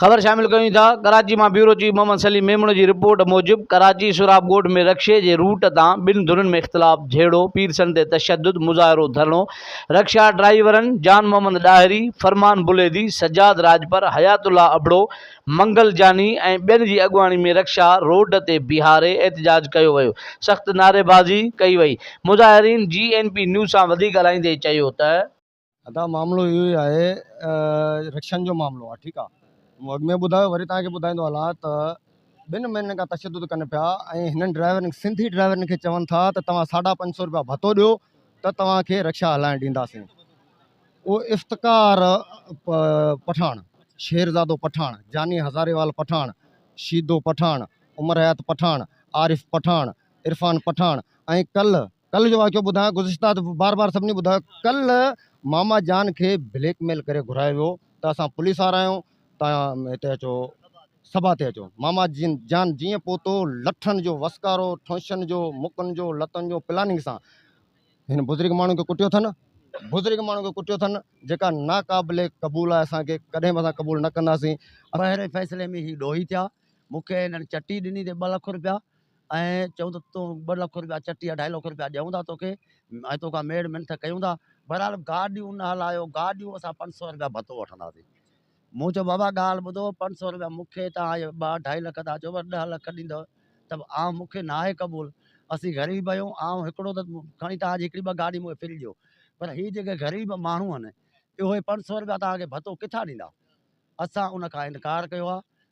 خبر شامل ڪيون ٿا ڪراچي مان بيورو چيف محمد سليم ميمڻ جي رپورٽ موجب ڪراچي سوراب ڳوٺ ۾ رڪشي جي روٽ تان ٻن ڌرين ۾ اختلاف جهيڙو پيرسن تي تشدد مظاهرو ڌرڻو رڪشا ڊرائيورن جان محمد ڏاهري فرمان بليدي سجاد راڄپر حيات الله ابڙو منگلجاني ۽ ٻين جي اڳواڻي ۾ رڪشا روڊ تي بيهاري احتجاج ڪيو ويو، سخت نعريبازي ڪئي وئي، مظاهرين جي اين پي نيوز سان وڌي ڳالهائيندي چيو ته. ادا معاملو اهو ئي آهي رڪشن جو معاملو آهي ٺيڪ آهي مون اڳ ۾ ٻڌايو وري توهان کي ٻڌائيندو هلان ته ٻن مهينن کان تشدد ڪن پيا ۽ هنن ڊرائيورن سنڌي ڊرائيورن کي چون ٿا ته توهان ساڍا پنج سو روپيا ڀتو ڏيو ته توهان کي رڪشا هلائڻ ڏينداسين او افتخار پٺاڻ، شيرزادو پٺاڻ، جاني هزاريوال پٺاڻ، شيدو پٺاڻ، عمر حيات پٺاڻ، عارف پٺاڻ، عرفان پٺاڻ ۽ ڪل ڪل جو واقعو ٻڌايان گذشته ته بار بار سڀني ٻڌايو ڪل ماما جان کي بليڪ ميل ڪري گهرايو ويو ته اسان پوليس وارا آهيون تان هتي اچو سڀا تي اچو ماما جن جان جيئن پهتو لٺن جو وسڪارو ٺونشن جو مڪن جو لتن جو پلاننگ سان هن بزرگ ماڻهو کي ڪٽيو اٿن بزرگ ماڻهو کي ڪٽيو اٿن جيڪا ناقابل قبول آهي اسان کي ڪڏهن به اسان قبول نه ڪنداسين. پهرين فيصلي ۾ هي ڏوهي ٿيا مون کي هنن چٽي ڏني تي ٻه لک روپيا ۽ چيون ته تون ٻه لک روپيا چٽي اڍائي لک روپيا ڏيون ٿا توکي ۽ توکان ميڙ منٿ ڪيون ٿا بهرحال گاڏيون نه هلايو گاڏيون اسان پنج سؤ روپيا ڀتو وٺنداسين مون چيو بابا ڳالهه ٻڌو پنج سؤ روپيا مون کي توهان اهي ٻه اڍائي لک ٿا چئو پر ڏهه لک ڏيندؤ ته به آئون مون کي ناهي قبول اسين غريب آهيون آئون هڪڙو ته کڻي توهان جي هڪڙي ٻه گاڏي مون کي فري ڏيو پر هي جيڪي غريب ماڻهو آهن اهي پنج سؤ روپيا توهان کي ڀتو ڪٿان ڏيندا اسان ان کان انڪار ڪيو آهي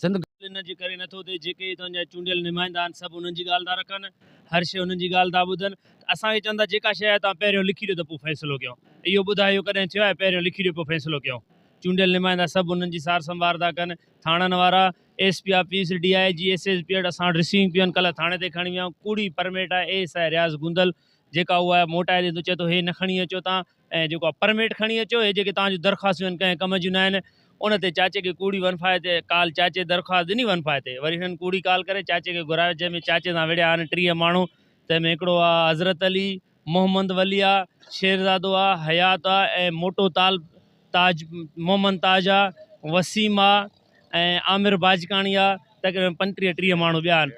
سنڌ ڳالهه انهن جي ڪري نٿو ٿئي جيڪي هتان جا چونڊيل نمائندا آهن سڀ انهن جي ڳالهه ٿا رکن هر شيء انهن جي ڳالهه ٿا ٻڌن ته اسان کي چون ٿا جيڪا شيء آهي تون پهريون لکي ڏيو ته پوء فيصلو ڪيون اهو ٻڌاء اهو ڪڏهن ٿيو آهي پهريون لکي ڏيو پوء فيصلو ڪيون چونڊيل نمائندا سڀ انهن جي سار سنڀار ٿا ڪن ٿاڻن وارا S P office D I G S S P ايڊ اسان وٽ رسيونگ پيون ڪلهه ٿاڻي تي کڻي ويا آهيون ڪوڙي پرميٽ آهي A S I Riaz Gondal جيڪا اهو آهي موٽائي ڏي ٿو چئي ٿو هي نه کڻي اچو تان ۽ جيڪو آ پرميٽ کڻي اچو هي جيڪي توهان جون درخواستون آهن ڪنهن ڪم جون ناهن ان تي چاچي کي ڪوڙي ونفايت تي ڪال چاچي درخواست ڏني ونفايت تي وري هنن ڪوڙي ڪال ڪري چاچي کي گهرايو جنهن ۾ چاچي سان وڙهيا آهن ٽيهه ماڻهو تنهن ۾ هڪڙو آ حضرت علي محمد ولي آ شيرزادو آ حيات آ ۽ موٽو تال تاج محمد تاج آ وسيم آ ۽ عامر باجڪاڻي آ تقريبن پنجٽيهه ٽيهه ماڻهو ٻيا آهن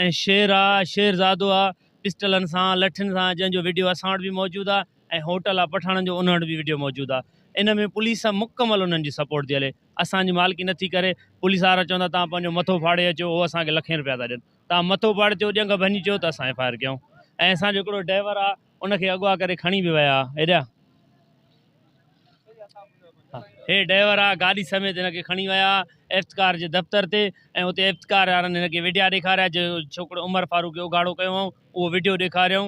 ۽ شير آ شيرزادو آ پسٽلن سان لٺين سان جنهن جو وڊيو اسان وٽ به موجود آ ۽ هوٽل آ پٺاڻن جو انهن وٽ به وڊيو موجود آ ان ۾ پوليس مڪمل انهن جي سپورٽ ٿي هلي اسان جي مالڪي نه ٿي ڪري پوليس وارا چون ٿا توهان پنهنجو مٿو ڦاڙي اچو هو اسان کي لکين روپيا ٿا ڏين توهان مٿو ڦاڙي اچو ڄنگ ڀڃي چيو ته اسان ايف آء آر ڪيون ۽ اسان جو هڪڙو ڊائيور آ ان کي اغوا ڪري کڻي به ويا هيڏا هي ڊائيور آ گاڏي سميت هن کي کڻي ويا افتڪار جي دفتر تي ۽ اتي افتڪار وارن هن کي وڊيا ڏيکاريا جو ڇوڪرو عمر فاروق کي اگهاڙو ڪيو هئائون اهو وڊيو ڏيکاريائون